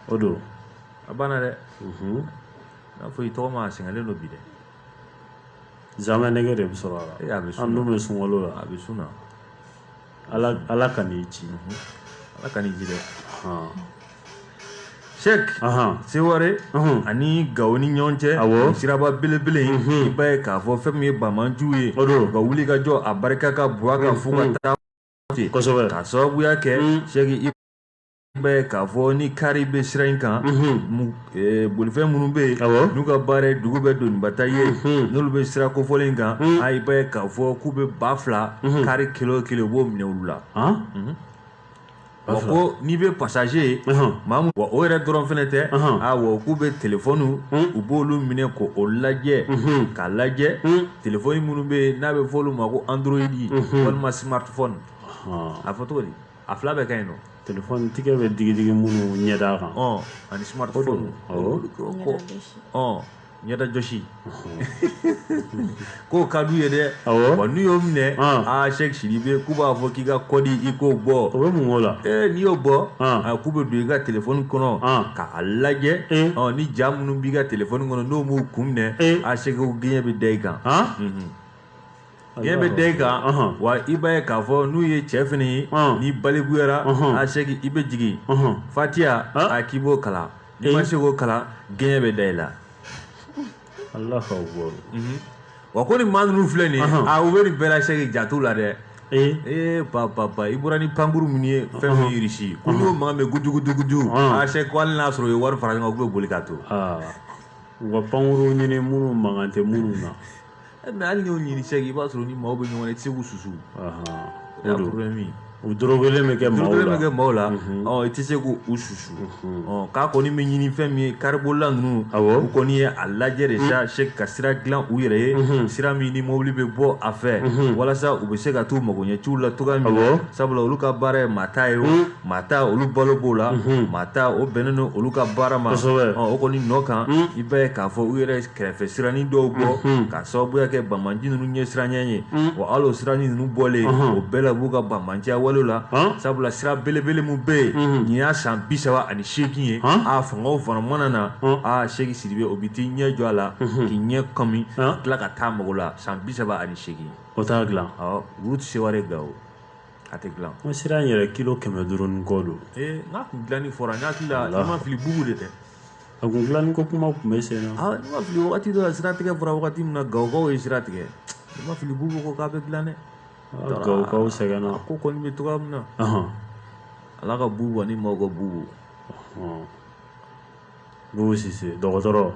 o don a banna dɛ n'a fɔ i tɔgɔ ma sɛgɛnlen don bi dɛ Zamɛ nɛgɛ de bɛ sɔrɔ a bɛ sun bɛ sun la a bɛ sun ala kan'i ci ala kan'i ci sɛki seware ani gawo ni ɲɔgɔn cɛ a siraba belebele i b'a ye k'a fɔ fɛn min ye banbaanciw ye o don ka wuli ka jɔ a barika ka bon ka fo ka taa kosɛbɛ k'a sababuya kɛ sɛ b'a ye k'a fɔ ni kari bɛ sira in kan bolifɛn minnu bɛ yen n'u ka baara ye dugu bɛɛ doniba ta ye n'olu bɛ sira kofɔlen in kan a i b'a ye k'a fɔ k'u bɛ ba fila kari kelen o kelen u b'o minɛ olu la ko n'i bɛ pasaze ye maa min wa o yɛrɛ dɔrɔn fɛnɛ tɛ a k'u bɛ telefɔni u b'olu minɛ k'o lajɛ k'a lajɛ telefɔni minnu bɛ yen n'a bɛ fɔ olu ma ko android walima smartphone a fɔ cogo di a fila bɛɛ ka ɲi nɔ telefɔni tigɛ bɛ digidigi minnu ɲɛda kan ani smartphone ko ɲɛdajɔsi k'o ka d'u ye dɛ wa n'u y'o minɛ aa sɛki sidibe k'u b'a fɔ k'i ka kɔdi i k'o bɔ o bɛ mun k'o la n'i y'o bɔ k'u bɛ don i ka telefɔni kɔnɔ k'a lajɛ ni ja minnu b'i ka telefɔni kɔnɔ n'o m'u kun minɛ a sɛki o gɛɲɛ bɛ da i kan Gɛɲɛ bɛ da i kan wa i b'a ye k'a fɔ n'u ye cɛ fɛnɛ ye n'i balikuyara a sɛki i bɛ jigin fatiha a k'i b'o kalan n'i ma se k'o kalan gɛɲɛ bɛ da i la wa ko ni maa ninnu filɛ nin ye u bɛ nin bɛɛ la sɛki jate la dɛ ee ba i bɔra ni pankuru min ye fɛn min irisi ko n'o mankan bɛ gujugujuguju a sɛki ko hali n'a sɔrɔ u ye wari fara ɲɔgɔn kan u bɛ boli k'a to u ka pankuru ɲini minnu mankan tɛ minnu na ɛ mɛ hali n'i y'o ɲini sɛki i b'a sɔrɔ ni maaw bɛ ɲɔgɔn na i tɛ se k'u susu o y'a problème ye u dorogelen bɛ kɛ maaw la dorogelen bɛ kɛ maaw la ɔ i tɛ se k'u susu ɔ k'a kɔni bɛ ɲini fɛn min ye karibolila ninnu awɔ u kɔni ye a lajɛ de sa sɛki ka sira dilan u yɛrɛ ye sira min ni mobili bɛ bɔ a fɛ walasa u bɛ se ka t'u magoɲɛciw la cogoya min na sabula olu ka baara ye maa ta ye o maa ta olu balo b'o la maa ta o bɛnnen don olu ka baara ma o kɔni nɔ kan i b'a ye k'a fɔ u yɛrɛ kɛrɛfɛ siranin dɔw bɔ mhm. ka sababuya kɛ banbaanci ninnu ɲɛsiranɲɛ ye mhm. wa hali o siranin ninnu bɔlen mhm. o bɛɛ la b'u ka banbaanciya wale la sabula sira belebele min bɛ yen nin y'a san bi saba ani seegin ye a fangaw fana mana na a Sɛki Sidibe o bɛ t'i ɲɛ jɔ a la k'i ɲɛ kɔmi ka tila ka taa mago la san bi saba ani seegin o t'a dilan ɔ route Seware Gawo a tɛ dilan o sira in yɛrɛ kilo kɛmɛ duuru ni kɔ don ee n k'a kun dilanni fɔra n hakili la i ma fili Bubu de tɛ A kun dilanni ko kuma tun bɛ sen na aa ni n ma fili wagati dɔ la siratigɛ fɔra wagati min na Gawokaw ye sira tigɛ i ma fili Bubu ko k'a bɛ dilan dɛ Gawokaw sɛgɛnna a ko kɔni bɛ cogoya min na Ala ka Bubu ani maaw ka Bubu Bubu Sise dɔgɔtɔrɔ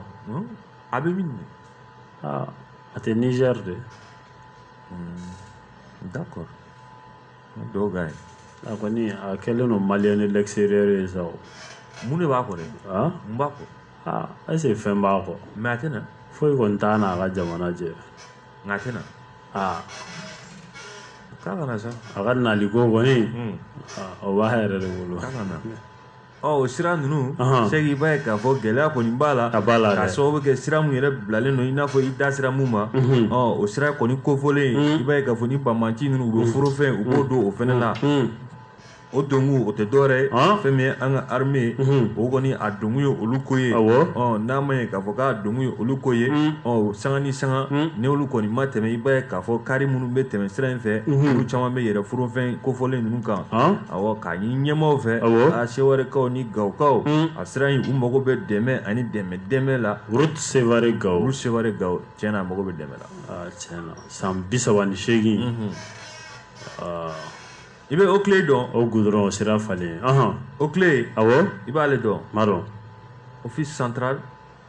a bɛ min aa a tɛ Nizɛri dɛ d'accord dɔw ka ɲi a kɔni a kɛlen don malien de l'extérieur ye sa o mun de b'a kɔ dɛ mun b'a kɔ aa est-ce que fɛn b'a kɔ mais a tɛna foyi kɔni t'a n'a ka jamana cɛ nka a tɛna aa k'a kana sa a ka naliko kɔni o b'a yɛrɛ de bolo k'a kana o sira ninnu Sɛki i b'a ye k'a fɔ gɛlɛya kɔni b'a la a b'a la k'a sababu kɛ sira min yɛrɛ bilalen don i n'a fɔ i da sera min ma o sira kɔni kofɔlen i b'a ye k'a fɔ ni banbaanci ninnu u bɛ forofɛn u b'o don o fana na o donkun o tɛ dɔwɛrɛ ye fɛn min ye an ka armée o kɔni a donkun ye olu ko ye n'a ma ye k'a fɔ k'a donkun ye olu ko ye ɔ sanga ni sanga ni olu kɔni ma tɛmɛ i b'a ye k'a fɔ kari minnu bɛ tɛmɛ sira in fɛ olu caman bɛ yɛlɛn forofɛn kofɔlen ninnu kan K'a ɲini ɲɛmaaw fɛ a Sewarekaw ni Gawokaw a sira in u mago bɛ dɛmɛ ani dɛmɛ dɛmɛ la route Seware Gawo route Seware Gawo tiɲɛna a mago bɛ dɛmɛ la tiɲɛna san bi saba ni seegin i bɛ OCLEI dɔn o gudɔrɔn o sira falen OCLEI i b'ale dɔn dɔn office central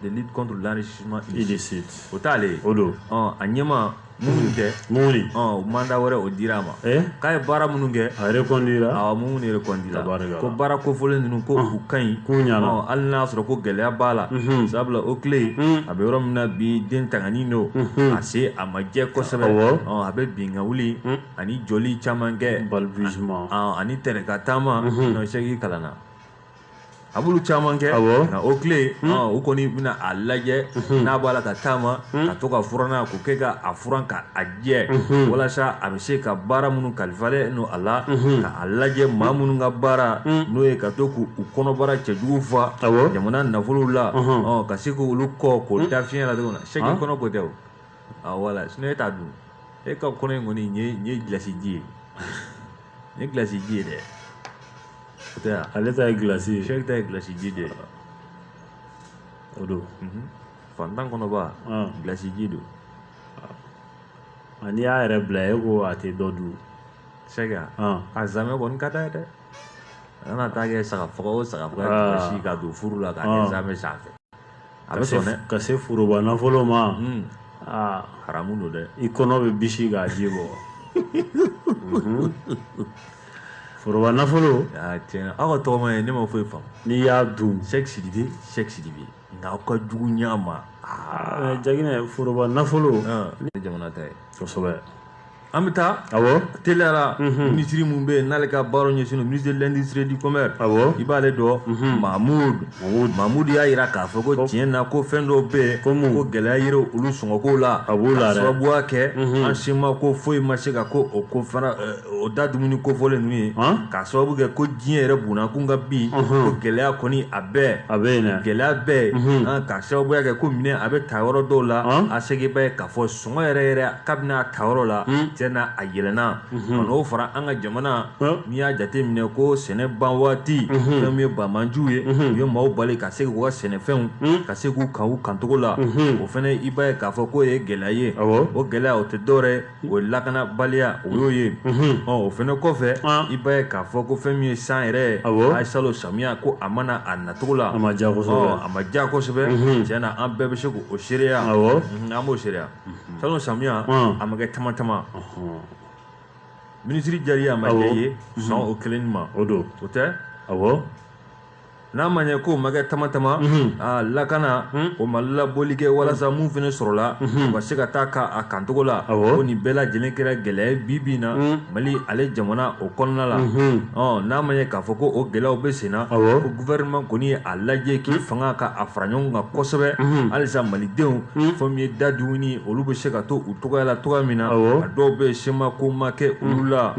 de lutte contre l'enrichissement illicite o t'ale ye o don a ɲɛmaa Mumuni kɛ Mumuni o manda wɛrɛ o dira a ma k'a ye baara minnu kɛ a reconduira a Mumuni reconduira ko baara kofɔlen ninnu ko u ka ɲi k'u ɲana hali n'a sɔrɔ ko gɛlɛya b'a la sabula OCLEI a bɛ yɔrɔ min na bi den tangani don a sen a ma jɛ kosɛbɛ a bɛ bin ka wuli ani joli caman kɛ balbutiement ani tɛrɛka taama sɛki kalan na a b'olu caman kɛ nka OCLEI hmm. u kɔni bɛna a lajɛ hmm. n'a b'a la ka taama hmm. ka to ka furannan ko kɛ ka a furan ka a jɛ walasa a bɛ se ka baara minnu kalifalen don a la ka a lajɛ maa minnu ka baara n'o ye ka to k'u kɔnɔbara cɛjugu fa jamana nafolow la ka se k'olu ko k'o da fiɲɛ la cogo min na sɛki ah. kɔnɔ ko tɛ o wala sinon e t'a dun e ka kɔnɔ in kɔni nin ye gilasi ji ye nin ye gilasi ji ye dɛ ale ta ye gilasi ye sɛki ta ye gilasi ji de ye o don mhm. fantan kɔnɔ b'a gilasi ji dɔn n'i y'a yɛrɛ bila e ko a tɛ dɔ dun sɛki a zamɛ kɔni ka d'a ye dɛ a kana taa kɛ saga faga o saga faga si ka don furu la k'a kɛ zamɛ sanfɛ a bɛ sɔn dɛ ka se foroba nafolo ma aa haramu don dɛ i kɔnɔ bɛ bisi k'a ji bɔ foroba nafolo tiɲɛ aw ka tɔgɔma ye ne ma foyi faamu n'i y'a dun sɛki sidibe sɛki sidibe nka aw ka jugu ɲɛ ma jaginɛ foroba nafolo ne jamana ta ye kosɛbɛ an bɛ taa teliyara minisiri min bɛ yen n'ale ka baara ɲɛsin don minisiri de l'industrie du commerce i b'ale dɔn mamudu mamudu y'a jira k'a fɔ ko tiɲɛ na ko fɛn dɔw bɛ yen ko ko gɛlɛya yera olu sɔngɔko la a b'o la sababuya kɛ an si ma ko foyi ma se ka ko o ko fana o da dumuni kofɔlen ninnu ye k'a sababu kɛ ko diɲɛ yɛrɛ bunakun ka bi ko gɛlɛya kɔni a bɛ yen dɛ gɛlɛya bɛ yen k'a sababuya kɛ ko minɛn a bɛ ta yɔrɔ dɔw la a sɛki b'a ye k'a fɔ sɔngɔ yɛrɛ yɛrɛ kabini a tayɔrɔ la tiɲɛ na a yɛlɛnna ka n'o fara an ka jamana n'i y'a jate minɛ ko sɛnɛ ban waati fɛn min ye banbaanciw ye u ye maaw bali ka se k'u ka sɛnɛfɛnw ka se k'u kan u kancogo la o fɛnɛ i b'a ye k'a fɔ k'o ye gɛlɛya ye o gɛlɛya o tɛ dɔwɛrɛ o ye lakanabaliya o y'o ye ɔ o fɛnɛ kɔfɛ i b'a ye k'a fɔ ko fɛn min ye san yɛrɛ a ye salon samiya ko a ma na a nacogo la a ma a ma diya kosɛbɛ tiɲɛ na an bɛɛ bɛ se k'o seereya an b'o seereya salon samiya a ma kɛ tama tama minisiri jari a ma ye san o kelen ma o don o tɛ a n'an b'a ye k'o ma kɛ tama tama a lakana o ma laboli kɛ walasa min fana sɔrɔla u ka se ka taa k'a kancogo la ko nin bɛɛ lajɛlen kɛra gɛlɛya bi bi in na mali ale jamana o kɔnɔna la ɔ n'an b'a ye k'a fɔ ko o gɛlɛyaw bɛ senna guvɛrɛnɛman kɔni ye a lajɛ k'i fanga ka a fara ɲɔgɔn kan kosɛbɛ halisa malidenw fɛn min ye da dumuni olu bɛ se ka to u cogoya la cogo min na a dɔw bɛ sema ko ma kɛ olu la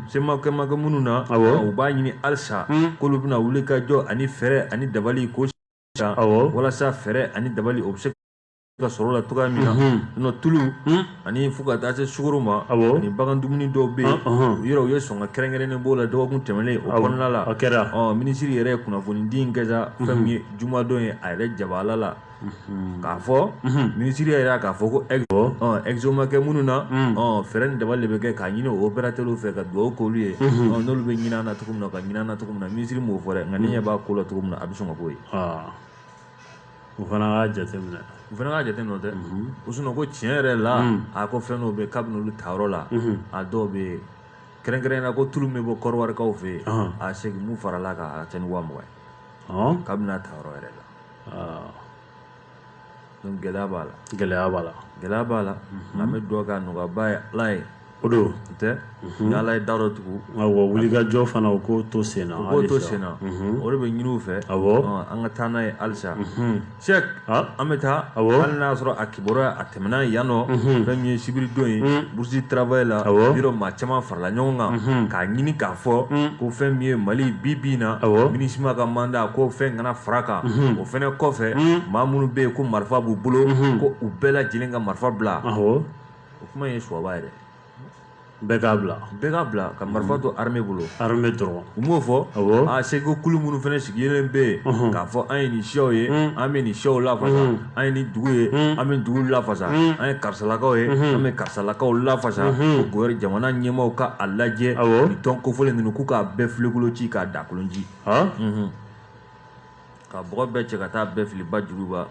sema ko ma kɛ minnu na u b'a ɲini halisa k'olu bɛna wuli ka jɔ ani fɛɛrɛ ani dabali ko walasa fɛɛrɛ ani dabali o bɛ se ka sɔrɔ la cogoya min na n'o tulu ani fo ka taa se sukaro ma ani bagan dumuni dɔw bɛ yen u yɛrɛ u ye sɔn ka kɛrɛnkɛrɛnnen b'o la dɔgɔkun tɛmɛnen o kɔnɔna la kɛra minisiri yɛrɛ ye kunnafonidi in kɛ fɛn min ye jumadon ye a yɛrɛ jabala la k'a fɔ minisiri yɛrɛ k'a fɔ ko e exo ma kɛ minnu na fɛɛrɛ ni dabali de bɛ kɛ k'a ɲini opérateurs fɛ ka dugawu k'olu ye n'olu bɛ ɲin'an na cogo min na ka ɲin'an na cogo min na minisiri m'o fɔ nka ni ɲɛ b'a ko la cogo min na a bɛ sɔn ka bɔ yen u fana k'a jateminɛ u fana k'a jateminɛ dɛ sinon ko tiɲɛ yɛrɛ la a ko fɛn dɔw bɛ kabini olu tayɔrɔ la a dɔw bɛ yen kɛrɛnkɛrɛnnen na ko tulu min bɛ bɔ kɔrɔwarikaw fɛ yen a segin min farala kan a ca ni wa mugan ye kabini a tayɔrɔ yɛrɛ la gɛlɛya b'a la gɛlɛya b'a la gɛlɛya b'a la an bɛ dugawu kɛ a nɔgɔyaba ye ala ye o don o tɛ mhm. ni ala ye da dɔ tugu awɔ wulikajɔ fana u k'o to sen na u k'o to sen na mhm. o de bɛ ɲini u fɛ awɔ an ka taa n'a ye halisa mhm. sɛk an bɛ taa awɔ hali n'a y'a sɔrɔ a kibaruya a tɛmɛna yan nɔ fɛn min ye sibiridon ye bourse du travail la awɔ yɔrɔ maa caman farala ɲɔgɔn kan k'a ɲini k'a fɔ ko fɛn min ye mali bi bi in na awɔ MINUSMA ka mandat ko fɛn kana fara kan o fɛnɛ kɔfɛ maa minnu bɛ yen ko marifa b'u bolo ko u bɛɛ lajɛlen ka marifa bila awɔ o kuma ye suwaba ye dɛ bɛɛ k'a bila bɛɛ k'a bila ka marifa to armée bolo armée dɔrɔn u m'o fɔ awɔ a seko kulu minnu fana sigilen bɛ yen mhm. k'a fɔ an ye nin siyaw ye mhm. an bɛ nin siyaw lafasa mhm. an ye nin dugu ye an bɛ dugu lafasa an ye karisalakaw ye an bɛ karisalakaw lafasa ko jamana ɲɛmaaw ka a lajɛ nin tɔn kofɔlen ninnu k'u k'a bɛɛ filen kolon ci k'a daa kolon ci ka bɔgɔ bɛɛ cɛ ka taa bɛɛ fili ba joliba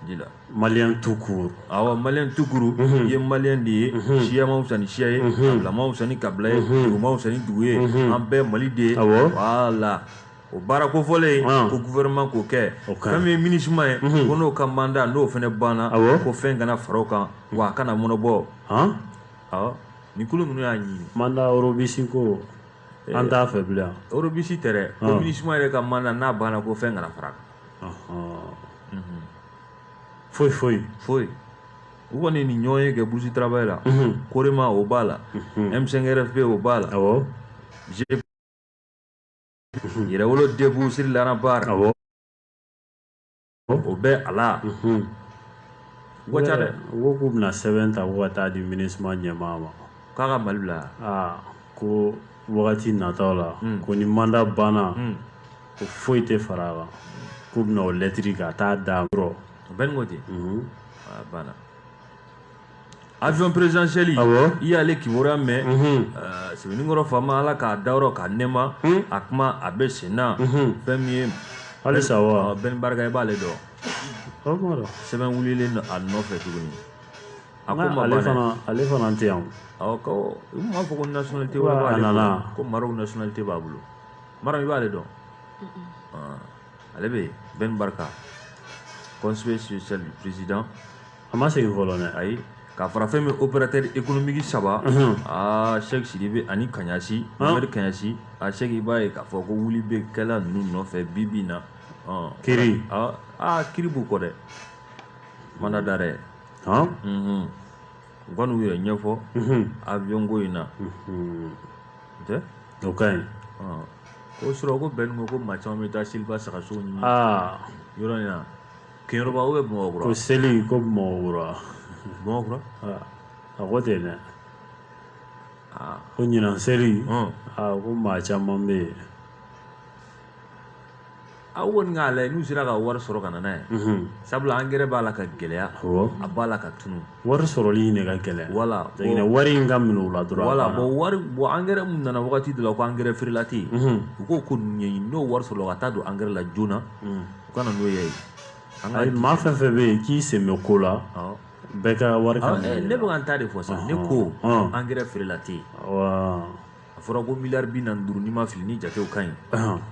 ji la maliyɛn tout court awa maliyɛn tout court mhm. i ye maliyɛn de ye mhm. siya ma fisa ni siya ye mhm. kabila ma fisa ni kabila ye dugu ma fisa ni dugu ye an bɛɛ mali de ye voilà o baara kofɔlen ah. ko gouvernement k'o kɛ fɛn min ye MINUSMA ye ko n'o ka mandat n'o fana banna ko fɛn kana fara o kan wa a kana mɔnɔbɔ nin kulu ninnu y'a ɲini mandat robuste ko an t'a fɛ bilen robuste tɛ dɛ ko MINUSMA yɛrɛ ka mandat n'a banna ko fɛn kana fara kan foyi foyi foyi u kɔni nin ɲɔgɔnye kɛ bourse travail la COREMA o b'a la M5 RFP o b'a la yɛrɛwolo debout sur les remparts o bɛ a la u ka ca dɛ u ko k'u bɛna sɛbɛn ta ko ka taa di MINUSMA ɲɛmaa ma k'a ka mali bila aa ko wagati nataw la ko ni mandat banna ko foyi tɛ fara a kan k'u bɛna o lɛtiri ka taa da yɔrɔ o bɛ n'o ten banna avion présidentiel i y'ale kibaruya mɛn euh, sɛbɛnnikɔrɔ faama ala k'a dayɔrɔ k'a nɛɛma hmm? a kuma a bɛ sen na fɛn min ye halisa wa Ben Barka i b'ale dɔn sɛbɛn wulilen don a nɔfɛ tuguni a ko ma ban ale fana ale fana tɛ yan awɔ ko u m'a fɔ ko nationalité wɛrɛ b'ale bolo ko Maroc nationalité b'a bolo Maroc i b'ale dɔn ale bɛ yen Ben Barka conseiller spécial du président A ma segin fɔlɔ dɛ ayi ka fara fɛn min opérateur économique 3 unhun aa Sɛki Sidibe ani Kaɲasi han Mohamɛdi Kaɲasi a Sɛki i b'a ye k'a fɔ ko wuli be kɛla ninnu nɔfɛ bi-bi in na ɔɔ kiri aa aa kiri b'u kɔ dɛ mandat d'arrêt han unhun u ka n'u yɛrɛ ɲɛfɔ unhun avion ko in na unhun o tɛ o ka ɲi ɔɔ ko surɔ ko Bɛn ko ko maa caman be taa seliba sagasow ni aa yɔrɔ in na keyoroba u bɛ bamakura ko seli ko bamakura bamakura a ko ten dɛ ko ɲinan seli ko maa caman bɛ yen aw kɔni k'a lajɛ n'u sera ka wari sɔrɔ ka n'a ye sabula angɛrɛ b'a la ka gɛlɛya a b'a la ka tunun wari sɔrɔli de ka gɛlɛn wala wari in ka minɛ u la dɔrɔn wala bɔn wari bɔn angɛrɛ min nana wagati dɔ la ko angɛrɛ frelaté in mhm. u k'o ko ɲɛɲini n'o wari sɔrɔla o ka taa don angɛrɛ la joona mhm. u ka na n'o ye ayi maa fɛn fɛn bɛ yen k'i sen bɛ ko la bɛɛ ka wari ka eh, ne bɛ ka n ta de fɔ sa ne ko angɛrɛ frelaté in a fɔra ko miliyari bi naani duuru n'i ma fili ni jatew ka ɲi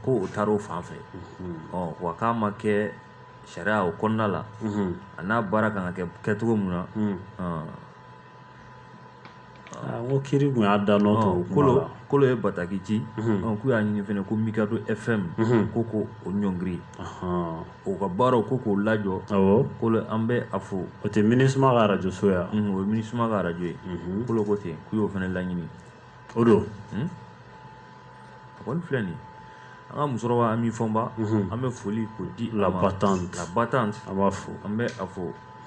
ko o taara o fan fɛ mhm. ɔ wa k'a ma kɛ sariya o kɔnɔna la a n'a baara kan ka kɛ cogo min na ɔn, Ah, n ko kiri kun y'a da nɔ to ɔn, kuma kolo la. kolo ye bataki ci ɔn, k'u y'a ɲini fɛnɛ ko mikado fm ko ko o ɲɔngiri Ahan. o ka baaraw ko k'o lajɔ awɔ kolo an bɛ a fo o tɛ minisuma ka arajo so ya Mhm, o ye minisuma ka arajo ye kolo ko ten k'u y'o fɛnɛ laɲini o don hmm? a kɔni filɛ nin an ka musokɔrɔba Ami Fɔnba mhm. an bɛ foli k'o di la battante la battante an b'a fo an bɛ a fo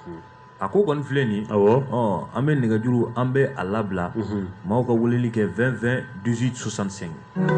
mhm. a ko kɔni filɛ nin awɔ an bɛ nɛgɛjuru an bɛ a labila mhm. maaw ka weleli kɛ 20 20 18 65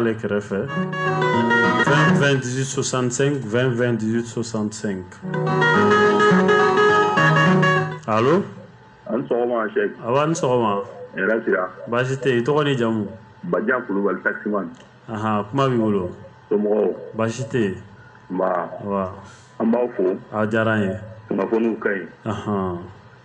ale kɛrɛfɛ 20 20 18 65 20 20 18 65 alo a ni sɔgɔma sɛk awa a ni sɔgɔma hɛrɛ sira baasi tɛ i tɔgɔ ni jamu Bajan Kulubali taximan aha kuma b'i bolo somɔgɔw baasi tɛ yen nba wa an b'aw fo a diyara an ye kunnafoniw ka ɲi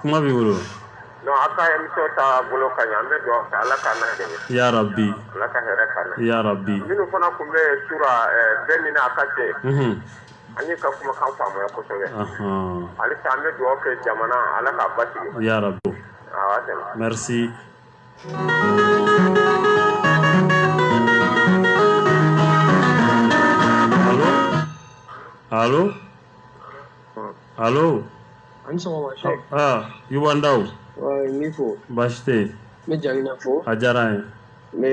kuma b'i bolo non a ka émission ta bolo ka ɲi an bɛ dugawu kɛ ala k'an na dɛmɛ ya rabi ala ka hɛrɛ k'an na ya rabi minnu fana tun bɛ sura eh, bɛɛ min na a ka se Mhm. an ye ka kumakan faamuya kosɛbɛ Ahan. halisa an bɛ dugawu kɛ jamana ala k'a basigi ya rabi awa tɛmɛ merci Allô Allô Alo an sɔgɔma Sɛki aa Yuba Ndaw n b'i fo baasi tɛ yen n bɛ Jakinɛ fo a diyara an ye n bɛ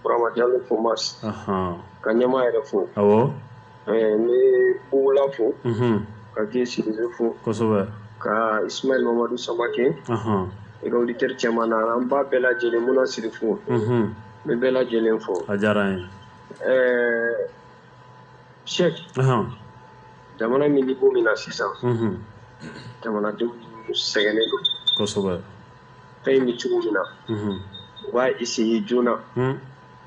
Burama Jalo fo Masi ka ɲɛmaa yɛrɛ fo awɔ n bɛ Bugula fo ka Vieux Sidibe fo kosɛbɛ ka Isimayɛli Mamadu Samakɛ et ka auditeur cɛman n'a lamɛnba bɛɛ lajɛlen Muna Siri fo n bɛ bɛɛ lajɛlen fo a diyara an ye ɛɛ Sɛki jamana bɛ niveau min na sisan jamanadenw sɛgɛnnen don kosɛbɛ fɛn in bɛ cogo min na u b'a essayer joona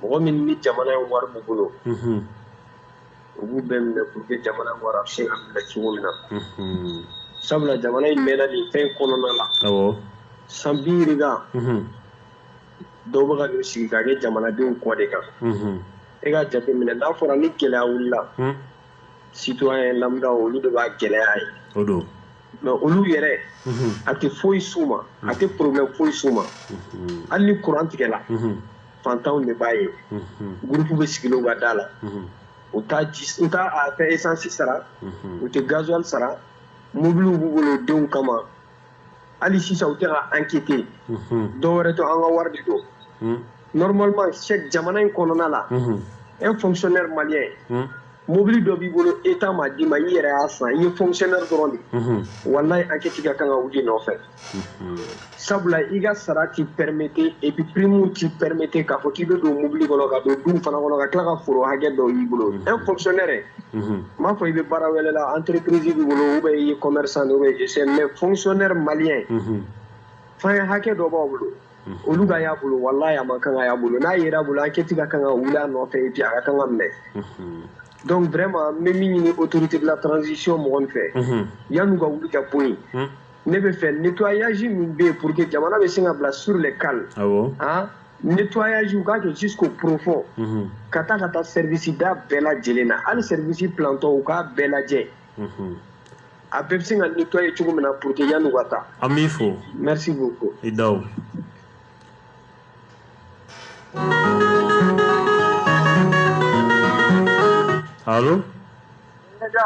mɔgɔ min ni jamana in wari b'u bolo u b'u bɛɛ minɛ pour que jamana wari bɛ se ka minɛ cogo min na sabula jamana in mɛnna nin fɛn kɔnɔna la san bi yirika dɔw bɛ ka sigi ka kɛ jamanadenw kɔ de kan e ka jate minɛ n'a fɔra ni gɛlɛya wulila hmm? citoyen lambda olu de b'a gɛlɛya ye o don mais olu yɛrɛ mhm. a tɛ foyi s'u ma a mhm. tɛ problème foyi s'u ma mhm. hali ni courant tigɛla fantanw de b'a ye gurupu bɛ sigilen u ka da la u tɛ esansi sara u tɛ gazuwali sara mobiliw b'u bolo denw kama hali sisan u tɛ ka enquêter dɔwɛrɛ to an ka wari de don normalement Sɛki jamana in kɔnɔna la un fonctionnaire malien mobili dɔ b'i bolo état m'a d'i ma i yɛrɛ y'a san i ye fonctionnaire dɔrɔn de wallahi enquête ka kan ka wul'i nɔfɛ sabula i ka sara t'i permettre et puis prime t'i permettre k'a fɔ k'i bɛ don mobili kɔnɔ ka don du fana kɔnɔ ka tila ka foro hakɛ dɔ y'i bolo un fonctionnaire n m'a fɔ i bɛ baara wɛrɛ la entreprise b'i bolo ou bien i ye commerçant ou bien je sais mais fonctionnaire malien fɛn hakɛ dɔ b'a bolo olu ka y'a bolo walayi a man kan ka y'a bolo n'a yer'a bolo enquête ka kan ka wuli a nɔfɛ et puis a ka kan ka minɛ donc vraiment n bɛ min ɲini autorité de la transition mɔgɔw fɛ yan'u ka wuli ka bɔ yen ne b'a fɛ nettoyage min bɛ yen pour que jamana bɛ se ka bila sur les cales awɔ han nettoyage u k'a kɛ jusqu'au profond unhun ka taa ka taa service da bɛɛ lajɛlen na hali service planton u k'a bɛɛ lajɛ unhun a bɛɛ bɛ se ka nettoyer cogo min na pour que yan'u ka taa an b'i fo merci beaucoup i Ndaw alo Nka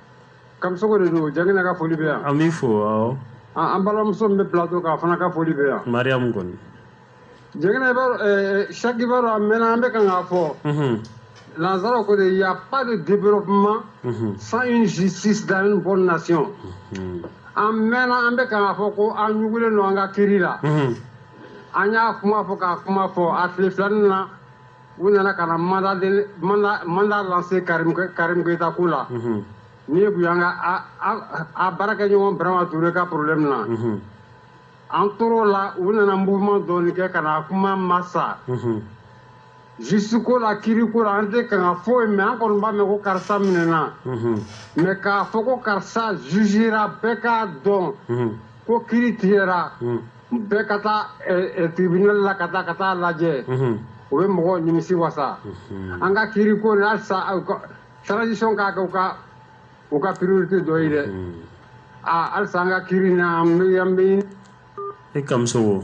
Kamisoko de don Jakinɛ ka foli bɛ yan an b'i fo awɔ an balimamuso min bɛ plateau kan a fana ka foli bɛ yan Mariyamu Kɔnɛ Jakinɛ i b'a dɔn ɛɛ Sɛki i b'a dɔn a mɛnna an bɛ kan k'a fɔ nansara ko de il y a pas de développement sans une justice dans une bonne nation an mɛnna an bɛ kan k'a fɔ ko an ɲugulen don an ka kiiri la an y'a kuma fɔ k'a kuma fɔ a tile fila in na u nana ka na mandat lancé Karim Keita ko la n'i ye bonya ka a baarakɛɲɔgɔn Birama Ture ka problème na an tor'o la u nana mouvement dɔɔnin kɛ ka na kuma ma sa justice ko la kiiriko la an tɛ kan ka foyi mɛn an kɔni b'a mɛn ko karisa minɛna mais k'a fɔ ko karisa jugera bɛɛ k'a dɔn ko kiiri tigɛ Bɛɛ ka taa tribunal la ka taa ka t'a lajɛ o bɛ mɔgɔw nimisi wasa an ka kiiri ko in halisa transition k'a kɛ u ka priorité dɔ ye dɛ aa halisa an ka kiiri in na an bɛn i Kamisɔkɔ.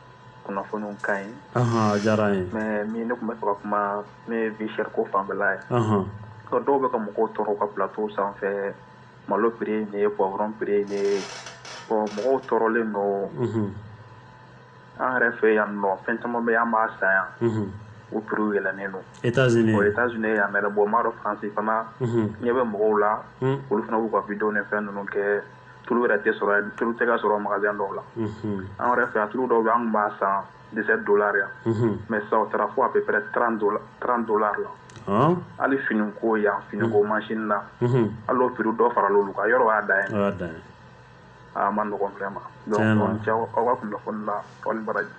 kunnafoniw ka ɲi a diyara n ye mais min ne tun bɛ fɛ ka kuma ne ye vie chère ko fanfɛla ye dɔw bɛ ka mɔgɔw tɔɔrɔ ka plateau sanfɛ malo prix ye nin ye poivron prix ye nin ye bon mɔgɔw tɔɔrɔlen don an yɛrɛ fɛ yan nɔ fɛn caman bɛ an b'a san yan u prix yɛlɛnnen don Etats-Unis yan mais bon n b'a dɔn France fana ɲɛ bɛ mɔgɔw la olu fana b'u ka vidéo ni fɛn ninnu kɛ tulu yɛrɛ tɛ sɔrɔ tulu tɛ ka sɔrɔ magasin dɔw la an yɛrɛ fɛ yan tulu dɔw bɛ an tun b'a san dix-sept dollars yan mais sisan o taara fo à peu près trente dollars la hali finiko yan finiko machine na hali o prix dɔ farala olu kan yɔrɔ o y'a dan ye a man nɔgɔn vraiment donc aw ni ce aw ka kunnafoni na aw ni baraji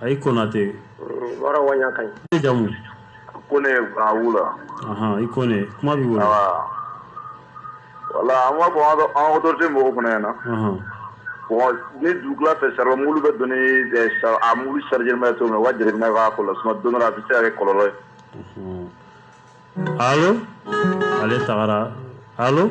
a i konate wara wanya kan i jamu kone a wula ahan i kone kuma b'i bolo voilà an b'a fɔ an ka autorité mɔgɔw fana ɲɛna bon ni dugutila fɛ charbon mobili bɛ don ni a mobili chargement bɛ cogo min na u ka jateminɛ k'a ko la sinon don dɔ la a bɛ se ka kɛ kɔlɔlɔ ye allo ale tagara allo